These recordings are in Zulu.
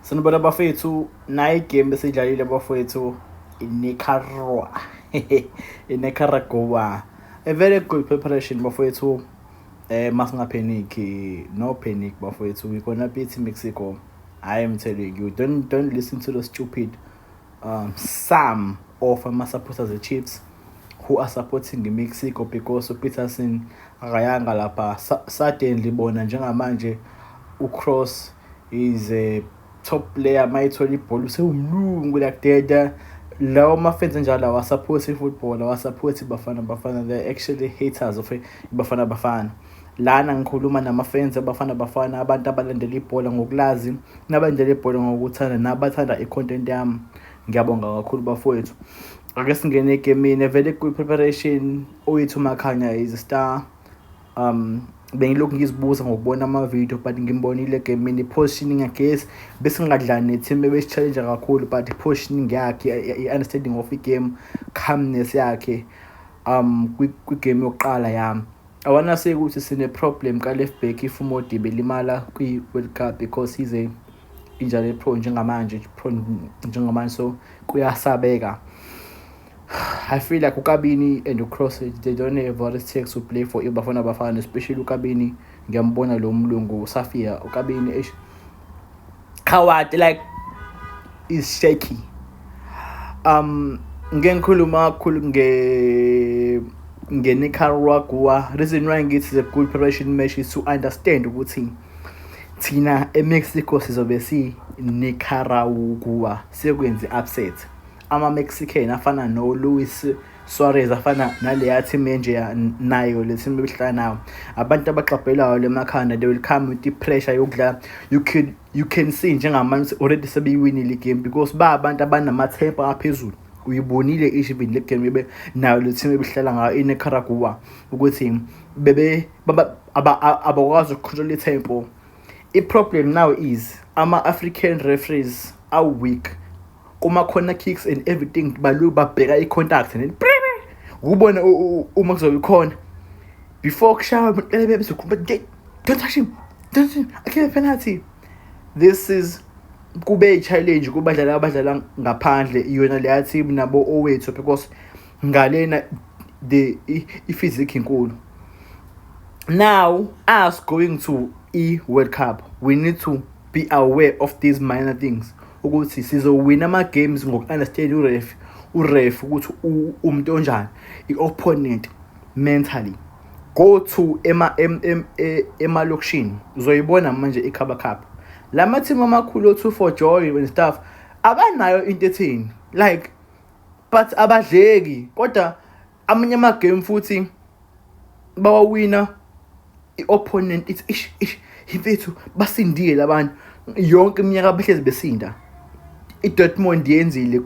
Sanibona bafethu nayi game besidlalile bafethu iNicaragua iNicaragua a very good preparation bafethu eh masingapanic no panic bafethu we gonna beat Mexico I am telling you don't don't listen to the stupid um, some of ama-supporters e-chiefs who are supporting i-mexico because upeterson akayanga lapha suddenly bona njengamanje ucross is a top player uma ethola ibhola usewumlungu lakudeda lawo mafenzi njalo awasaphothi i-football awasaphothi ibafana bafana they actually haters of ibafana bafana Lana ngikhuluma namafensi eBafana Bafana, abantu abalandela ibhola ngokulazi, nabalandela ibhola ngokuthanda, nabathanda i-content yami. Ngiyabonga kakhulu bafowethu. Ake singene egemini evele kwi-preparation uyithi uMakhanya is a star. Um, bengilokhu ngizibuza ngokubona amavidiyo but ngimbonile egemini i-positioning yakhe yes bese ngingadlani ne-team ebesi-challenge kakhulu but i-positioning yakhe i-understanding of i-game calmness yakhe um kwigame yokuqala yami Awanaseki ukuthi sine problem ka left back if uModibe limala kwi World Cup because he's a injury prone njengamanje prone njengamanje so kuyasabeka I feel like uKabini and uCross they don't have what it takes to play for iBafana Bafana especially uKabini ngiyambona lo mlungu Safia uKabini eish Howard like is shaky um ngeke ngikhuluma kakhulu nge nge-Nicaragua reason why ngithi the good preparation match is to understand ukuthi thina eMexico sizobe si Nicaragua sekwenze upset ama-Mexican afana no-Luis Suarez afana naleya team enjeya nayo le team ebihlala nayo abantu abagxabhelayo le makhanda they will come with i-pressure yokudlala you can you can see njengamanje already sebeyiwinile igame because ba abantu abanamathemba aphezulu uyibonile even le game bebe nayo le team ebihlala ngayo inecaragua ukuthi bebe abakwazi ukucontrola itempo i-problem now is ama-african referees are weak kuma corner kicks and everything balu babheka i contact and ukubona uma kuzobe khona before kushawa umuntu bezokhuluma don't touch him don't touch him i can't penalty this is kube i-challenge kubadlali abadlala ngaphandle iyona leya team nabo owethu because ngalena the i-physic inkulu now us going to i-world cup we need to Be aware of these minor things ukuthi sizowina ama-games ngoku-understand uref uref ukuthi umuntu onjani i-opponent mentally go to e, emalokishini ema, ema uzoyibona manje ikhaba khaba la mathimu amakhulu o-two for joy and stuff abanayo into ethini like but abadleki kodwa amanye amagame futhi bawawina i-opponent ithi ish ish yimfethu basindile labantu yonke iminyaka behlezi besinda i-dortmund yenzile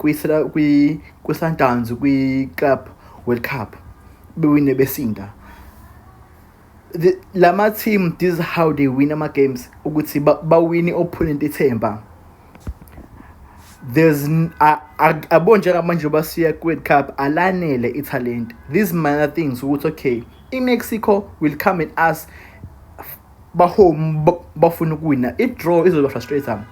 kwi-sundowns kwi-club world cup bewine besinda the, lama team this is how they win ama games ukuthi bawine ba opponent ithemba there's abon njengamanje basiya kwi-world cup alanele ithalente these minor things ukuthi okay i-mexico will come and ask bahome bafuna ukuwina i-draw izoba frustrator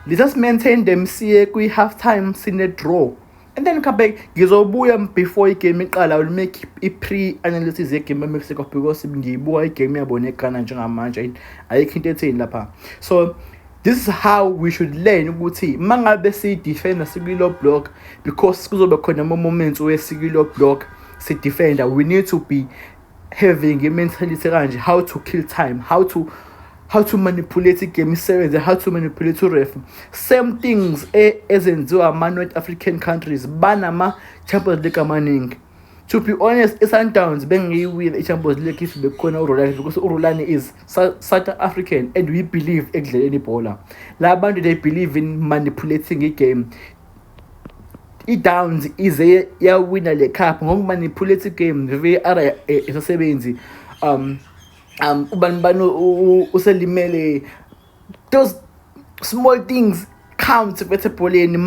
let us maintain them siye kwi-half time sine-draw and then come back ngizobuya before igame iqala will make i-pre-analysis yegame emexico because ngiyibuka igame yabo neghana njengamanje ayikho into etheni lapha so this is how we should learn ukuthi uma ngabe siyidefenda sikwilo block because kuzobe khona ama-moments wesikilo block sidefenda we need to be having a mentality kanje how to kill time how to how to manipulate igame isebenze how to manipulate uref same things e, ezenziwa ama-north african countries banama-champions league amaningi to be honest i-sundowns bengiyiwina i-champions league if bekukhona urolani because urolani is south african and we believe ekudleleni ibhola la bantu they believe in manipulating igame idowns ize yawina le cup ngokuba niphuleti game var isasebenzi um um ubani bani uselimele those small things count bethe ebholeni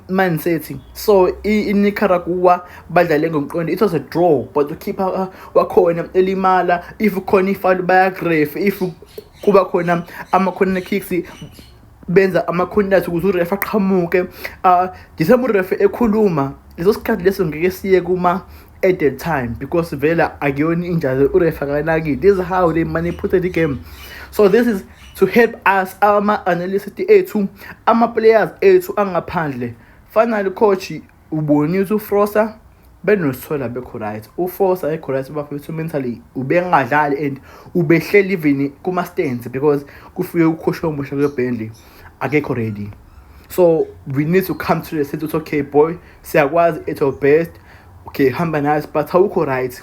man city so inicaragua badlale ngomqondo it was a draw but ukhipha uh, wakhona elimala if khona ifalu bayagrefe if kuba khona ama-corner kicks benza ama-contact ukuze urefa aqhamuke um ah, ngisembe urefa ekhuluma leso sikhathi leso ngeke siye kuma at the time because vela akuyona injazi urefa kanaki this is how they manipulate the game so this is to help us ama-analyst ethu ama-players ethu angaphandle finally coach Ubonisa uFrosa benosola bekho right uFosa ekho right bafethu mentally ubengadlali and ubehleli even kuma stands because kufike ukhosha omusha kwe Burnley akekho ready so we need to come to the sense okay boy siyakwazi at your best okay hamba nayo but awukho right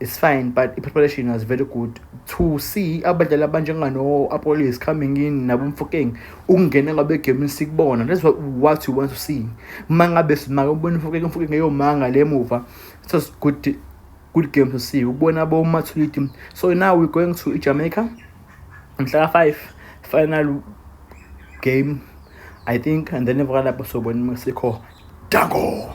It's fine but i-preparation was very good to see abadlali abanjengano-apollo is coming in nabomfokeng ukungena ngabe egemini sikubona that's what, what you want to see uma ngabe simake ubona umfokeng umfokeng eyomanga le muva so it's good, good game to see ukubona abomathuliti so now we're going to ijamaica mhlaka five final game i think and then emva kalapho sobona uma sikho dango